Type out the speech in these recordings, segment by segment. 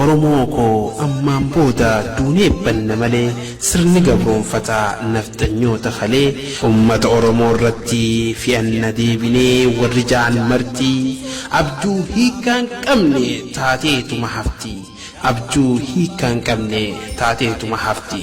Oromoo koo ammaan booda duunee banna malee sirni gabroomfataa nafxanyoota kalee ummata Oromoo irratti fe'anna deebinee warri ja'an marti abjuu hiikkaa hin qabne taateetuma hafti abjuu hiikkaa hin qabne taateetuma hafti.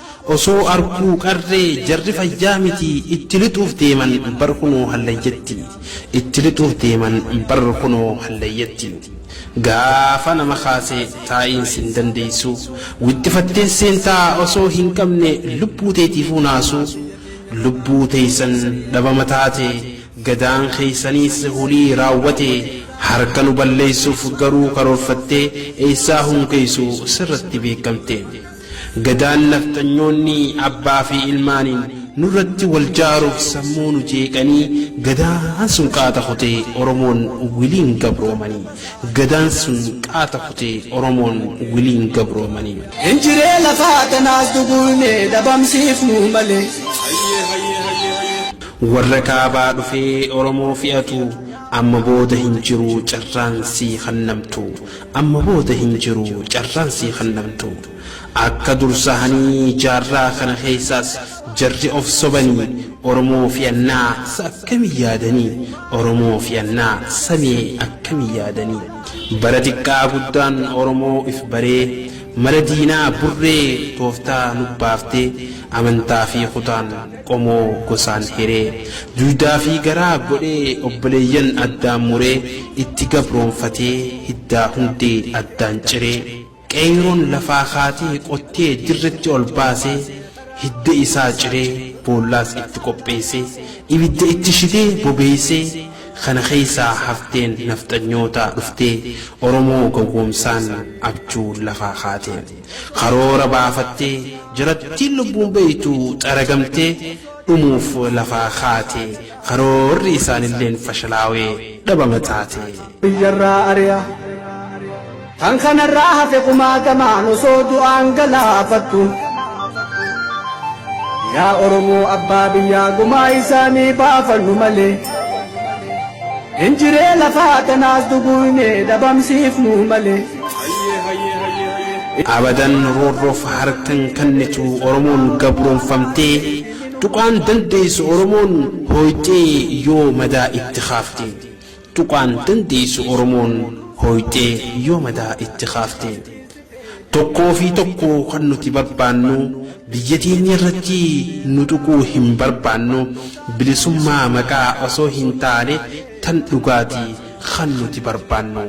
Osoo arguu qarree jarri fayyaa miti itti lixuuf deeman bar kunoo hallayyatti itti lixuuf deeman bar kunoo hallayyatti gaafa nama kaase taa'iin sin dandeessu wixxifattees seentaa osoo hin qabne lubbuu teetiifuu naasu lubbuu teessan dhabama taate gadaan keessaniis hulii raawwate harka nu balleessuuf garuu karoorfattee eessaa hunkeessu sirratti beekamte. Gadaan nafxanyoonni abbaa fi ilmaaniin nurratti wal jaaruuf sammuu nu jeeqanii Gadaan sun qaata kutee Oromoon wiliin gabroomanii Gadaan sun qaata kutee Oromoon wiliin gabroomanii. Hin jiree lafaa tanaas duguugnee dhabamsiifnuu malee. Warra kaabaa dhufee Oromoo fi'atu amma booda hin jiru carraan sii kannamtu Amma booda hin jiru carraan sii kannamtu. Akka dur sahanii jaarraa kana keessaas jarri of sobanii Oromoo fi annaa sa akkami yaadanii Oromoo fi annaa sa mee akkami yaadanii. Bara xiqqaa guddaan Oromoo if baree mala diinaa burree tooftaa nubbaaftee amantaa fi kutaan. qomoo gosaan hiree. Duydaa fi garaa godhee obboleeyyan addaan muree itti gabroomfatee hiddaa hundee addaan ciree. Qeeyroon lafaa kaatee qottee dirretti ol baasee hidda isaa ciree boollaas itti qopheessee ibidda itti shidee bobeessee kana keessaa hafteen nafxanyootaa dhuftee Oromoo gowwoomsaan abjuu lafaa kaatee. Karoora baafattee jirattiin lubbuun beeytu xaragamtee dhumuuf lafaa kaate karoorri isaanilleen fashalaawee dhabama taate. biyyarraa ari'a. Kan kanarraa hafe kumaatamaan osoo du'aan galaafattu. Yaa Oromoo abbaa biyyaa gumaa isaanii baafannu malee. Hin jiree lafaa tanaas duguugnee dhabamsiifnuu malee. Abadan roorroof harkan kannitu Oromoon gabroomfamtee tuqaan dandeessu Oromoon hooyxee yoo madaa itti kaafte tuqaan dandeessu Oromoon hooyxee yoo madaa itti kaafte tokkoo fi tokko kan nuti barbaannu biyya teenya irratti nu tuquu hin barbaannu bilisummaa maqaa osoo hin taane Tan dhugaati kan nuti barbaannu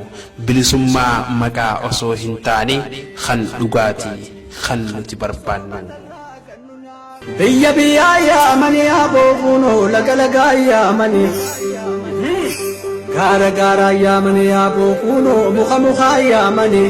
bilisummaa maqaa osoo hin taane kan dhugaati kan nuti barbaannu. Biyya biyyaa yaamanii aboo kuunoo laga lagaa yaamanii. Gaara gaaraa yaamanii aboo kuunoo muka mukaa yaamanii.